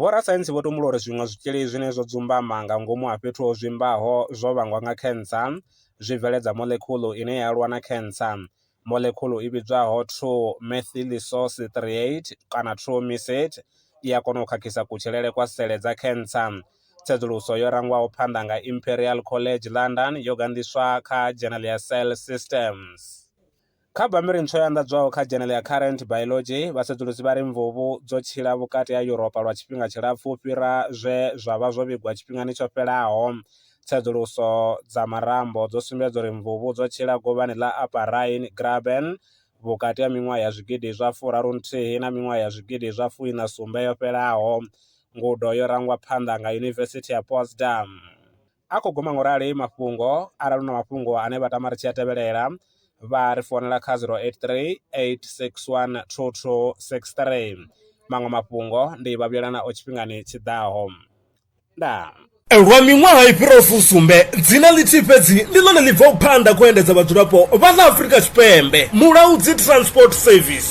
Vhorasaintsi vho tumbula uri zwiṅwe zwitzhili zwine zwo dzumbama nga ngomu ha fhethu ho zwimbaho zwo vhangwa nga khentsa zwi bveledza moḽekhuḽu ine ya lwa na khentsa. Moḽekhuḽu i vhidzwaho 2-methylisocitrate kana 2-misate i a kona u khakhisa kutshilele kwa sele dza khentsa. Tsedzuluso yo rangwaho phanḓa nga Imperial College London yo ganḓiswa kha dzhenele ya Cell Systems. Kha bammbiri ntswa yo anḓadzwaho kha dzhenele ya Current Biology, vhasedzulusi vha ri mvuvhu dzo tshila vhukati ha Yuropa lwa tshifhinga tshilapfu u fhira zwe zwa vha zwo vhigwa tshifhingani tsho fhelaho. Tsedzuluso dza marambo dzo sumbedza uri mvuvhu dzo tshila govhani ḽa Upper Rhine Graben vhukati ha miṅwaha ya zwigidi zwa furaru nthihi na miṅwaha ya zwigidi zwa fuiṋa sumbe yo fhelaho. Ngudo yo rangwa phanḓa nga Yunivesithi ya Potsdam. a khou guma ngo rali mafhungo arali na mafhungo ane vha tama ri tshi a tevhelela vha ri founela kha 083 861 2263 maṅwe mafhungo ndi vha vhuyela nao tshifhingani tshi ḓaho ndaa lwa miṅwaha i fhiraho fusumbe dzina ḽithihi fhedzi ndi ḽone ḽi bvaho phanḓa khou endedza vhadzulapo vha ḽa afurika tshipembe mulaudzi transport service